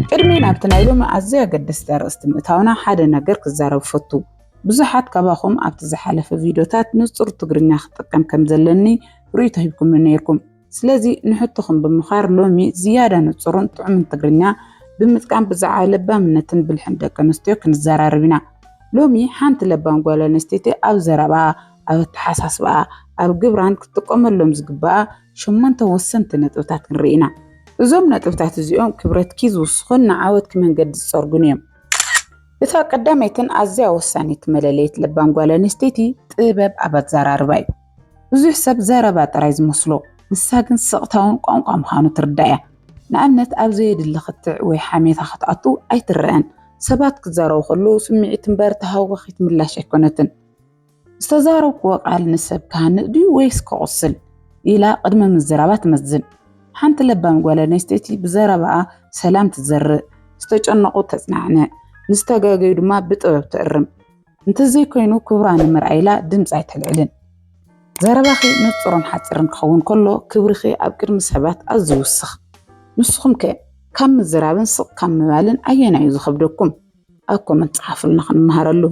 ቅድሚ ናብቲ ናይ ሎሚ ኣዝዩ ኣገደስቲ ኣርእስቲ ምእታውና ሓደ ነገር ክዛረብ ፈቱ። ብዙሓት ካባኹም ኣብቲ ዝሓለፈ ቪድዮታት ንጹር ትግርኛ ክጥቀም ከም ዘለኒ ርእይቶ ሂብኩምኒ ነይርኩም። ስለዚ ንሕቶኹም ብምኻር ሎሚ ዝያዳ ንጹርን ጥዑምን ትግርኛ ብምጥቃም ብዛዕባ ለባምነትን ብልሕን ደቂ ኣንስትዮ ክንዘራረብ ኢና። ሎሚ ሓንቲ ለባም ጓል ኣንስተይቲ ኣብ ዘረባኣ፣ ኣብ ኣተሓሳስባኣ፣ ኣብ ግብራን ክትጥቀመሎም ዝግባኣ ሸሞንተ ወሰንቲ ነጥብታት ንርኢ ኢና። እዞም ነጥብታት እዚኦም ክብረትኪ ዝውስኹን ንዓወትኪ መንገዲ ዝጸርጉን እዮም። እታ ቀዳመይትን ኣዝያ ወሳኒት መለለይት ለባም ጓል ኣንስተይቲ ጥበብ ኣብ ኣዘራርባ እዩ። ብዙሕ ሰብ ዘረባ ጥራይ ዝመስሎ፣ ንሳ ግን ስቕታውን ቋንቋ ምዃኑ ትርዳእ እያ። ንኣብነት ኣብ ዘየድሊ ክትዕ ወይ ሓሜታ ክትኣቱ ኣይትረኣን፣ ሰባት ክዛረቡ ከለዉ ስምዒት እምበር ተሃዋኺት ምላሽ ኣይኮነትን። ዝተዛረብክዎ ቃል ንሰብ ክሃንጽ ድዩ ወይስ ከቑስል ኢላ ቅድሚ ምዝራባ ትመዝን። ሓንቲ ለባም ጓል ኣንስተይቲ ብዘረባኣ ሰላም ትዘርእ፣ ዝተጨነቑ ተጽናዕንዕ፣ ንዝተጋገዩ ድማ ብጥበብ ትእርም። እንተዘይኮይኑ ክብራ ንምርኣይ ኢላ ድምጺ ኣይተልዕልን። ዘረባኺ ንጹርን ሓጺርን ክኸውን ከሎ ክብርኺ ኣብ ቅድሚ ሰባት ኣዝዩ ይውስኽ። ንስኹም ከ ካብ ምዝራብን ስቕ ካብ ምባልን ኣየናይ እዩ ዝኸብደኩም? ኣብ ኮመንት ጸሓፉልና ክንመሃረሉ።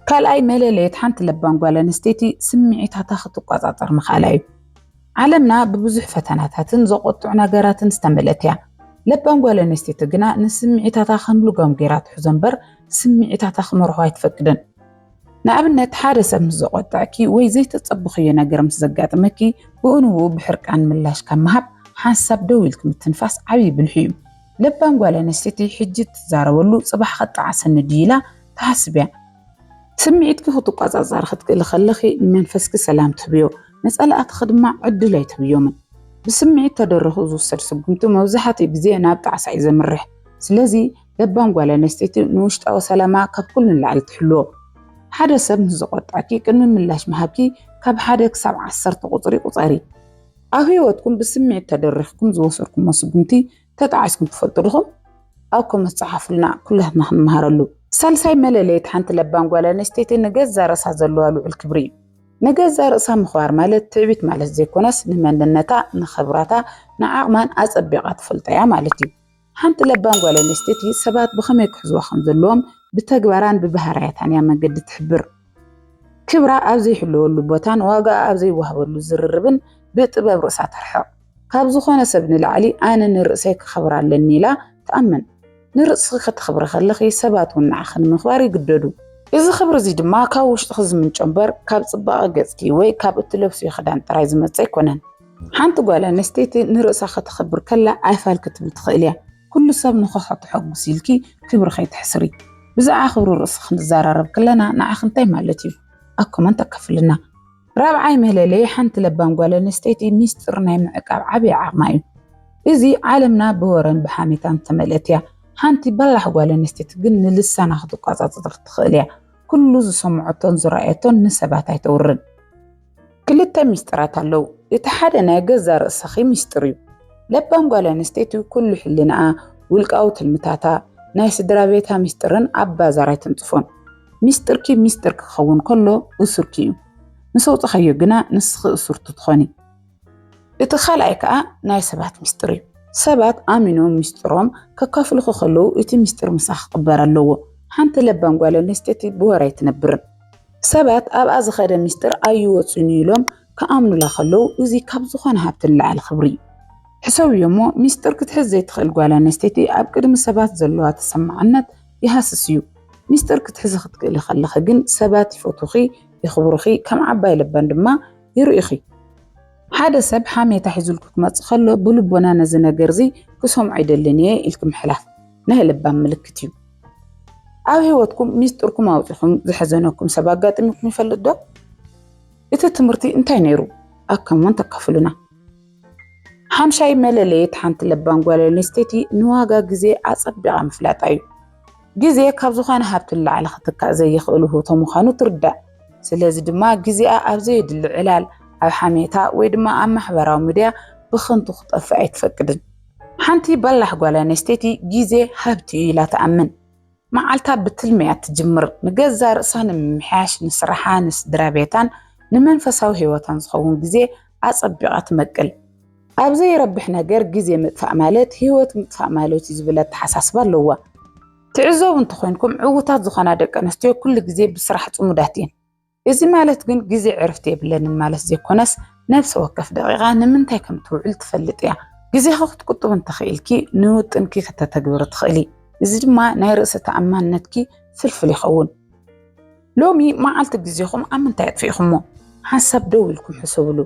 ካልኣይ መለለየት ሓንቲ ለባም ጓል ኣንስተይቲ ስምዒታታ ክትቆጻጸር ምኽኣላ እዩ። ዓለምና ብብዙሕ ፈተናታትን ዘቆጥዑ ነገራትን ዝተመልእት እያ። ለባም ጓል ኣንስተይቲ ግና ንስምዒታታ ከም ልጓም ገይራ ትሕዞ እምበር ስምዒታታ ክመርሖ ኣይትፈቅድን። ንኣብነት ሓደ ሰብ ምስ ዘቆጠዐኪ ወይ ዘይተጸበኽዮ ነገር ምስ ዘጋጥመኪ ብኡንብኡ ብሕርቃን ምላሽ ካብ ምሃብ ሓንሳብ ደው ኢልኪ ምትንፋስ ዓብዪ ብልሒ እዩ። ለባም ጓል ኣንስተይቲ ሕጂ እትዛረበሉ ጽባሕ ከጣዕሰኒ ድዩ ኢላ ትሓስብ እያ። ስምዒትኪ ክትቆጻጸሪ ክትክእሊ ከለኺ ንመንፈስኪ ሰላም ትህብዮ፣ ንጸላእትኺ ድማ ዕድል ኣይትህብዮምን። ብስምዒት ተደሪኹ ዝውሰድ ስጉምቲ መብዛሕትኡ ግዜ ናብ ጣዕሳ እዩ ዘምርሕ። ስለዚ ለባም ጓል ኣንስተይቲ ንውሽጣዊ ሰላማ ካብ ኩሉ ንላዕሊ ትሕልዎ። ሓደ ሰብ ምስ ዘቖጥዐኪ ቅድሚ ምላሽ ምሃብኪ ካብ ሓደ ክሳብ ዓሰርተ ቁጽሪ ቁጸሪ። ኣብ ህይወትኩም ብስምዒት ተደሪኽኩም ዝወሰድኩሞ ስጉምቲ ተጣዒስኩም ትፈልጡ ድኹም? ኣብ ኮመንት ጸሓፉልና ኩላትና ክንመሃረሉ። ሳልሳይ መለለይት ሓንቲ ለባም ጓል ኣንስተይቲ ንገዛ ርእሳ ዘለዋ ልዑል ክብሪ እዩ። ንገዛ ርእሳ ምኽባር ማለት ትዕቢት ማለት ዘይኮነስ ንመንነታ፣ ንኽብራታ፣ ንዓቕማን ኣጸቢቓ ትፈልጦ እያ ማለት እዩ። ሓንቲ ለባም ጓል ኣንስተይቲ ሰባት ብኸመይ ክሕዝዋ ከም ዘለዎም ብተግባራን ብባህርያታን እያ መገዲ እትሕብር። ክብራ ኣብ ዘይሕለወሉ ቦታን ዋጋኣ ኣብ ዘይወሃበሉ ዝርርብን ብጥበብ ርእሳ ተርሕቕ። ካብ ዝኾነ ሰብ ንላዕሊ ኣነ ንርእሰይ ከኸብር ኣለኒ ኢላ ትኣምን። ንርእስኺ ከተኽብሪ ከለኺ ሰባት እውን ንዓኺ ንምኽባር ይግደዱ። እዚ ክብሪ እዚ ድማ ካብ ውሽጥኺ ዝምንጮ እምበር ካብ ጽባቐ ገጽኪ ወይ ካብ እትለብስዮ ክዳን ጥራይ ዝመጽእ ኣይኮነን። ሓንቲ ጓል ኣንስተይቲ ንርእሳ ከተኽብር ከላ ኣይፋል ክትብል ትኽእል እያ። ኩሉ ሰብ ንኸሖ ተሐጉስ ኢልኪ ክብሪ ከይተሕስሪ። ብዛዕባ ክብሪ ርእሲ ክንዛራረብ ከለና ንዓኺ እንታይ ማለት እዩ? ኣብ ኮመንት ኣካፍልልና። ራብዓይ መለለዪ ሓንቲ ለባም ጓል ኣንስተይቲ ሚስጢር ናይ ምዕቃብ ዓቢ ዓቕማ እዩ። እዚ ዓለምና ብወረን ብሓሜታን ዝተመልአት እያ። ሓንቲ በላሕ ጓል ኣንስተይቲ ግን ንልሳና ክትቆጻጸር ትኽእል እያ። ኩሉ ዝሰምዖቶን ዝረኣየቶን ንሰባት ኣይተውርን። ክልተ ሚስጥራት ኣለዉ እቲ ሓደ ናይ ገዛ ርእስኺ ሚስጥር እዩ ለባም ጓል ኣንስተይቲ ኩሉ ሕልናኣ ውልቃዊ ትልምታታ ናይ ስድራ ቤታ ሚስጥርን ኣብ ባዛር ኣይተንጽፎን ሚስጥርኪ ሚስጥር ክኸውን ከሎ እሱርኪ እዩ ምስ ኣውጻኻዮ ግና ንስኺ እሱርቲ ትኾኒ እቲ ካልኣይ ከዓ ናይ ሰባት ሚስጥር እዩ ሰባት ኣሚኖም ሚስጥሮም ከካፍልኹ ከለዉ እቲ ሚስጥር ምሳኺ ክቕበር ኣለዎ ሓንቲ ለባም ጓል ኣንስተይቲ ብወረ ኣይትነብርን ሰባት ኣብኣ ዝኸደ ምስጢር ኣይወፅን እዩ ኢሎም ክኣምኑላ ከለዉ እዚ ካብ ዝኾነ ሃብቲ ንላዕሊ ክብሪ እዩ። ሕሰብዮ እሞ ምስጢር ክትሕዝ ዘይትኽእል ጓል ኣነስተይቲ ኣብ ቅድሚ ሰባት ዘለዋ ተሰማዕነት ይሃስስ እዩ። ምስጢር ክትሕዚ ክትክእሊ ከለኺ ግን ሰባት ይፈትዉኺ፣ የኽብሩኺ፣ ከም ዓባይ ለባም ድማ ይርእዩኺ። ሓደ ሰብ ሓሜታ ሒዙልኪ ክመፅእ ከሎ ብልቦና ነዚ ነገር እዚ ክሰምዖ ኣይደልን እየ ኢልኪ ምሕላፍ። ናይ ለባም ምልክት እዩ። ኣብ ህይወትኩም ሚስጥርኩም ኣውፂኹም ዘሐዘነኩም ሰብ ኣጋጢሙኩም ይፈልጥ ዶ? እቲ ትምህርቲ እንታይ ነይሩ? ኣከምውን ተካፍሉና። ሓምሻይ መለለየት ሓንቲ ለባም ጓል ኣንስተይቲ ንዋጋ ግዜ ኣጸቢቓ ምፍላጣ እዩ። ግዜ ካብ ዝኾነ ሃብቲ ንላዕሊ ክትካእ ዘይኽእል ውህብቶ ምዃኑ ትርዳእ። ስለዚ ድማ ግዜኣ ኣብ ዘየድሊ ዕላል፣ ኣብ ሓሜታ ወይ ድማ ኣብ ማሕበራዊ ሚድያ ብኸንቱ ክጠፍእ ኣይትፈቅድን። ሓንቲ በላሕ ጓል ኣንስተይቲ ግዜ ሃብቲ እዩ ኢላ ትኣምን። መዓልታ ብትልሚ እያ እትጅምር፣ ንገዛእ ርእሳ ንምምሕያሽ፣ ንስራሓ፣ ንስድራ ቤታን ንመንፈሳዊ ህይወታን ዝኸውን ግዜ ኣጸቢቓ ትመቅል። ኣብ ዘይረብሕ ነገር ግዜ ምጥፋእ ማለት ህይወት ምጥፋእ ማለት እዩ ዝብል ኣተሓሳስባ ኣለዋ። ትዕዘቡ እንተኾይንኩም ዕዉታት ዝኾና ደቂ ኣንስትዮ ኩሉ ግዜ ብስራሕ ጽሙዳት እየን። እዚ ማለት ግን ግዜ ዕርፍቲ የብለንን ማለት ዘይኮነስ ነፍሲ ወከፍ ደቂቃ ንምንታይ ከም ትውዕል ትፈልጥ እያ። ግዜኺ ክትቁጥቢ እንተኽኢልኪ ንውጥንኪ ክተተግብሪ ትኽእሊ። እዚ ድማ ናይ ርእሰ ተኣማንነትኪ ፍልፍል ይኸውን። ሎሚ መዓልቲ ግዜኹም ኣብ ምንታይ ኣጥፊእኹሞ? ሓንሳብ ደው ኢልኩም ሕሰብሉ።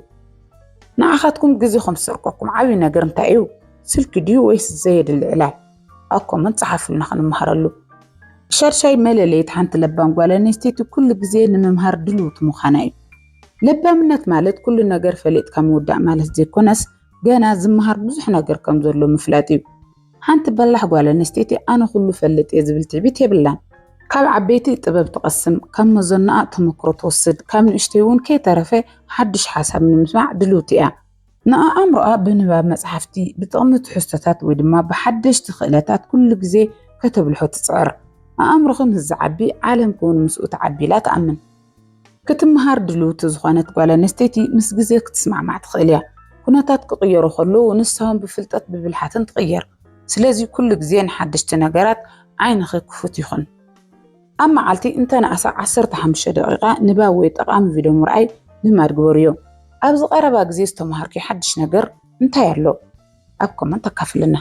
ንዓኻትኩም ግዜኹም ዝሰርቀኩም ዓብዪ ነገር እንታይ እዩ? ስልኪ ድዩ ወይስ ዘየድሊ ዕላል? ኣብ ኮመንት ጸሓፉልና ክንመሃረሉ። ሻድሻይ መለለይት ሓንቲ ለባም ጓል ኣንስተይቲ ኩሉ ግዜ ንምምሃር ድልውቲ ምዃና እዩ። ለባምነት ማለት ኩሉ ነገር ፈሊጥካ ምውዳእ ማለት ዘይኮነስ ገና ዝመሃር ብዙሕ ነገር ከም ዘሎ ምፍላጥ እዩ። ሓንቲ በላሕ ጓል ኣንስተይቲ ኣነ ኩሉ ፈልጥ እየ ዝብል ትዕቢት የብላን። ካብ ዓበይቲ ጥበብ ትቐስም፣ ካብ መዘናኣ ተመክሮ ትወስድ፣ ካብ ንእሽተይ እውን ከይተረፈ ሓድሽ ሓሳብ ንምስማዕ ድልውቲ እያ። ንኣእምሮኣ ብንባብ መጽሓፍቲ፣ ብጥቕሚ ትሕዝቶታት ወይ ድማ ብሓደሽቲ ክእለታት ኩሉ ግዜ ከተብልሖ ትጽዕር። ኣእምሮኺ ምስ ዝዓቢ ዓለምኪ'ውን ምስኡ ትዓቢ ኢላ ትኣምን። ክትመሃር ድልውቲ ዝኾነት ጓል ኣንስተይቲ ምስ ግዜ ክትስማዕማዕ ትኽእል እያ። ኩነታት ክቕየሩ ከለዉ ንሳ'ውን ብፍልጠት ብብልሓትን ትቕየር። ስለዚ ኩሉ ግዜ ንሓደሽቲ ነገራት ዓይንኺ ክፉት ይኹን። ኣብ መዓልቲ እንተነኣሰ ዓሰርተ ሓሙሽተ ደቒቓ ንባብ ወይ ጠቓሚ ቪድዮ ምርኣይ ልማድ ግበርዮ። ኣብዚ ቀረባ ግዜ ዝተምሃርክዮ ሓድሽ ነገር እንታይ ኣሎ? ኣብ ኮመንት ኣካፍልና።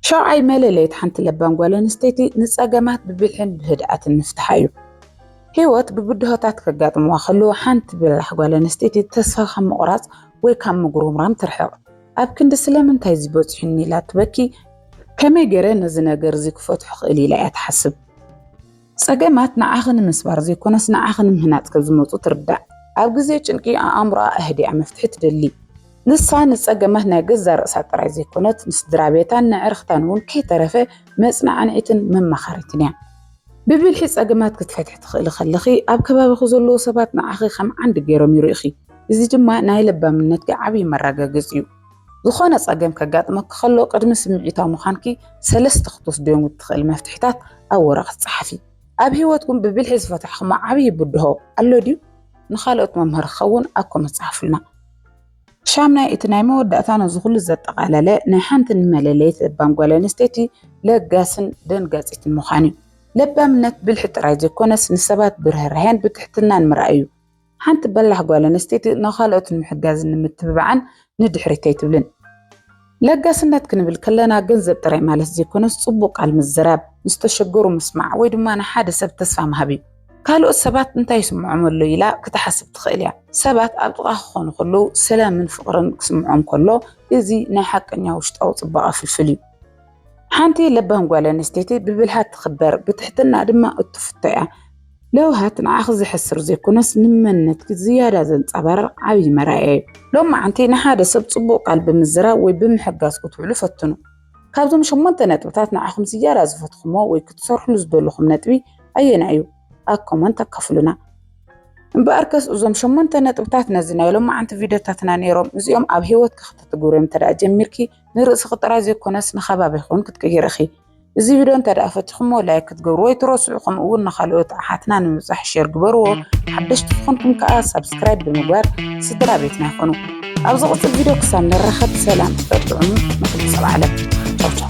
ሻውዓይ መለለይት ሓንቲ ለባም ጓል ኣንስተይቲ ንጸገማት ብብልሕን ብህድኣትን ምፍትሓ እዩ። ህይወት ብብድሆታት ከጋጥምዋ ከለዉ ሓንቲ በላሕ ጓል ኣንስተይቲ ተስፋ ካብ ምቑራጽ ወይ ካብ ምጉርምራም ትርሕቕ። ኣብ ክንዲ ስለምንታይ እዚ በጺሑኒ ኢላ ትበኪ፣ ከመይ ገይረ ነዚ ነገር እዚ ክፈትሖ እኽእል ኢላ እያ ትሓስብ። ጸገማት ንዓኺ ንምስባር ዘይኮነስ ንዓኺ ንምህናጽ ከም ዝመጹ ትርዳእ። ኣብ ግዜ ጭንቂ ኣእምሮኣ ኣህዲኣ መፍትሒ ትደሊ። ንሳ ንጸገማት ናይ ገዛእ ርእሳ ጥራይ ዘይኮነት፣ ንስድራቤታን ነዕርኽታን እውን ከይተረፈ መጽናዕኒዒትን መማኻሪትን እያ። ብብልሒ ጸገማት ክትፈትሒ ትኽእሊ ከለኺ፣ ኣብ ከባቢኺ ዘለዉ ሰባት ንዓኺ ከም ዓንዲ ገይሮም ይርእዩኺ። እዚ ድማ ናይ ለባምነትኪ ዓብዪ መረጋገፂ እዩ። ዝኾነ ፀገም ከጋጥመኪ ከሎ ቅድሚ ስምዒታዊ ምዃንኪ ሰለስተ ክትወስድዮም እትኽእሊ መፍትሒታት ኣብ ወረቐት ፀሓፊ። ኣብ ህይወትኩም ብብልሒ ዝፈታሕክሞ ዓብዪ ብድሆ ኣሎ ድዩ? ንኻልኦት መምህር ክኸውን ኣብ ኮመንት ፀሓፉልና። ሻምናይ እቲ ናይ መወዳእታ ነዚ ኩሉ ዘጠቓለለ ናይ ሓንቲ ንመለለይት ለባም ጓል ኣንስተይቲ ለጋስን ደንጋጺትን ምዃን እዩ። ለባምነት ብልሒ ጥራይ ዘይኮነስ ንሰባት ብርህራሄን ብትሕትናን ምርኣይ እዩ። ሓንቲ በላሕ ጓል ኣንስተይቲ ንኻልኦት ንምሕጋዝን ንምትብባዕን ንድሕሪት ኣይትብልን። ለጋስነት ክንብል ከለና ገንዘብ ጥራይ ማለት ዘይኮነስ ጽቡቕ ቃል ምዝራብ፣ ንዝተሸገሩ ምስማዕ ወይ ድማ ንሓደ ሰብ ተስፋ ምሃብ እዩ። ካልኦት ሰባት እንታይ ይስምዖም ኣሎ ኢላ ክትሓስብ ትኽእል እያ። ሰባት ኣብ ጥቓኻ ክኾኑ ከለዉ ሰላምን ፍቕርን ክስምዖም ከሎ እዚ ናይ ሓቀኛ ውሽጣዊ ጽባቐ ፍልፍል እዩ። ሓንቲ ለባም ጓል ኣንስተይቲ ብብልሃት ትኽበር፣ ብትሕትና ድማ እትፍቶ እያ። ለውሃት ንዓኺ ዘሕስር ዘይኮነስ ንመንነትኪ ዝያዳ ዘንጸባርቕ ዓብዪ መርኣያ እዩ። ሎም መዓንቲ ንሓደ ሰብ ጽቡቕ ቃል ብምዝራብ ወይ ብምሕጋዝ ክትውዕሉ ፈትኑ። ካብዞም ሸሞንተ ነጥብታት ንዓኹም ዝያዳ ዝፈትኹሞ ወይ ክትሰርሕሉ ዝደለኹም ነጥቢ ኣየናይ እዩ? ኣብ ኮመንት ኣካፍሉና። እምበኣርከስ እዞም ሸሞንተ ነጥብታት ነዚ ናይ ሎም መዓንቲ ቪድዮታትና ነይሮም። እዚኦም ኣብ ህይወትኪ ከተትግብርዮም እንተደኣ ጀሚርኪ ንርእስኺ ጥራይ ዘይኮነስ ንከባቢኺ ውን ክትቅይሪ ኢኺ። እዚ ቪድዮ እንተድኣ ፈቲኹሞ ላይክ ክትገብርዎ ኣይትረስዑ ከምኡ ውን ንኻልኦት ኣሓትና ንምብጻሕ ሼር ግበርዎ። ሓደሽቲ ዝኾንኩም ከኣ ሳብስክራይብ ብምግባር ስድራ ቤትና ይኹኑ። ኣብ ዝቕጽል ቪድዮ ክሳብ ንራኸብ ሰላም ጽሑፍ ጥዑም ንኹሉ ሰብ ዓለም። ቻው ቻው።